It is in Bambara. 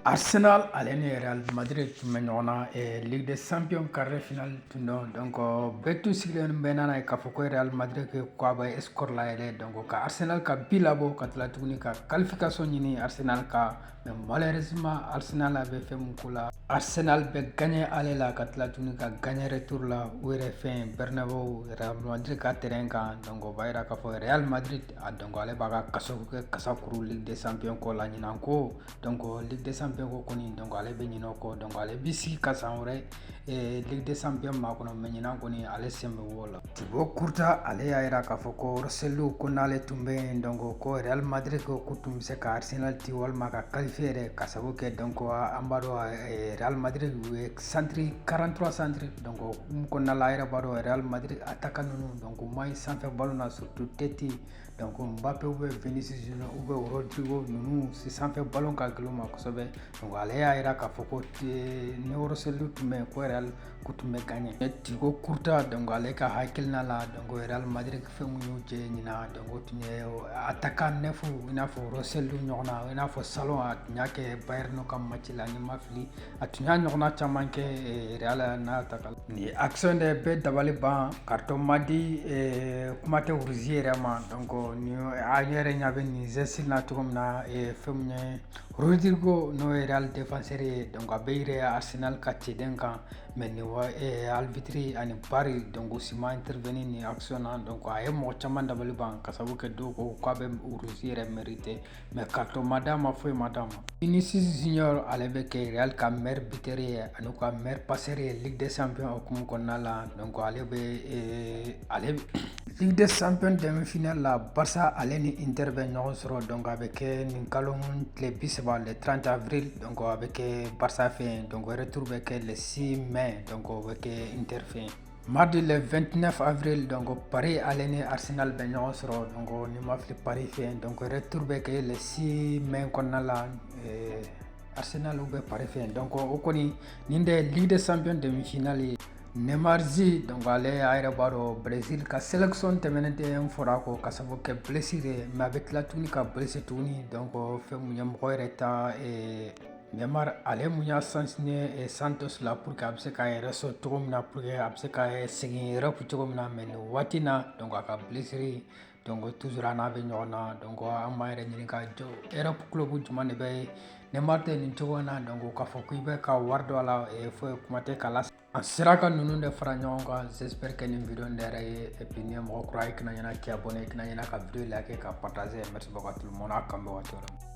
Arsenal ale ni Real Madrid tun bɛ ɲɔgɔn na eh, Ligue des Champions quart de finale tun don donc bɛɛ tun sigilen bɛ n'a ye k'a fɔ ko Real Madrid ko a bɛ score layɛlɛ donc ka Arsenal ka bi labɔ ka tila tuguni ka qualification ɲini Arsenal kan mais malheureusement Arsenal a bɛ fɛn min ko la Arsenal bɛ gagné aller la ka tila tuguni ka gagné retour la u yɛrɛ fɛ yen Bernabeu Real Madrid ka terrain kan donc o b'a jira k'a fɔ Real Madrid a donc ale b'a ka kasaw kɛ kasa kuru Ligue des Champions ko la ɲinan ko donc ligue des champions ko kɔni donc ale bɛ ɲinɛ o kɔ donc ale bɛ sigi ka san wɛrɛ eh, ligue des champions makɔnɔ mais ɲinan kɔni ale sen bɛ wo la Thibaut Courtois ale y'a jira k'a fɔ ko Joselu ko n'ale tun bɛ yen donc ko real madrid ko k'u tun bɛ se ka arsenal ti walima ka qualifier yɛrɛ ka sabu kɛ donc an b'a dɔn eh, real madrid u ye centre 43 centre donc mun kɔnɔna la a yɛrɛ b'a dɔn real madrid attaquant ninnu donc u man ɲi sanfɛ ballon na surtout tête donc Mbappe ou bien Vinicius Junior ou bien Rodrigo ninnu si sanfɛ ballon ka gɛlɛn u ma kosɛbɛ donc ale y'a jira k'a fɔ ko ni Joselu tun bɛ yen ko Real ko tun bɛ gagner mais Thibaut Courtois donc ale ka hakilina la donc Real Madrid fɛn mun y'u jɛ ɲinan donc o tun ye attaquant neuf i n'a fɔ Joselu ɲɔgɔnna i n'a fɔ salon a tun y'a kɛ Bayern ka match la ni n ma fili a tun y'a ɲɔgɔnna caman kɛ eh, real n'a ta kala nin action de bɛɛ dabali ban carton ma di eh, kuma tɛ rouge yɛrɛ ma donc ni a yɛrɛ ɲa bɛ nin geste na cogo min na eh, fɛn min ye Rüdiger n'o ye real défenseur ye donc a bɛ yɛlɛn arsenal ka cɛden kan mais ni arbitre ani VAR donc u si ma intervenir nin action na donc a ye mɔgɔ caman dabali ban ka sabu kɛ dɔw ko k'a bɛ rouge yɛrɛ mériter mais carton ma d'a ma foyi ma d'a ma vinicius junior ale bɛ kɛ real ka meilleur buteur ye ani u ka meilleur passeur ye ligue des champions hukumu kɔnɔna la donc ale bɛ eh, ale ligue des champions demi final la barça ale ni inter bɛ ɲɔgɔn sɔrɔ donc a bɛ kɛ nin kalo tile bi saba le 30 avril donc a bɛ kɛ barça fɛ yen donc retour bɛ kɛ le 6 mai donc o bɛ kɛ inter fɛ yen Mardi le 29 avril, donc Paris ale ni Arsenal bɛ ɲɔgɔn sɔrɔ donc ni n ma fili Paris fɛ yen donc retour bɛ kɛ le 6 mai kɔnɔna la eh, Arsenal ou bien Paris fɛ yen donc o kɔni nin de Ligue des Champions demi-finale ye Neymar Zi donc ale a yɛrɛ b'a dɔn Brésil ka sélection tɛmɛnen tun fɔr'a kɔ ka sabu kɛ blessure ye mais a bɛ tila tuguni ka blessé tuguni donc fɛn mun ye mɔgɔ yɛrɛ ta eh, Neymar ale mun y'a signé Santos la pour que a bɛ se k'a yɛrɛ sɔrɔ cogo min na pour que a bɛ se ka segin Europe cogo min na mais nin waati in na donc a ka blessure donc toujours a n'a bɛ ɲɔgɔn na donc an b'an yɛrɛ ɲininka jɔn Europe club jumɛn de bɛ Neymar ta nin cogo in na donc k'a fɔ k'i bɛ ka wari don a la foyi kuma tɛ k'a la an sera ka ninnu de fara ɲɔgɔn kan j'espère que nin video in diyar'a ye et puis n'i ye mɔgɔ kura ye i kana ɲinɛ k'i abonné i kana ɲinɛ ka video like ka partager merci beaucoup à tout le monde a k'an bɛn waati wɛrɛ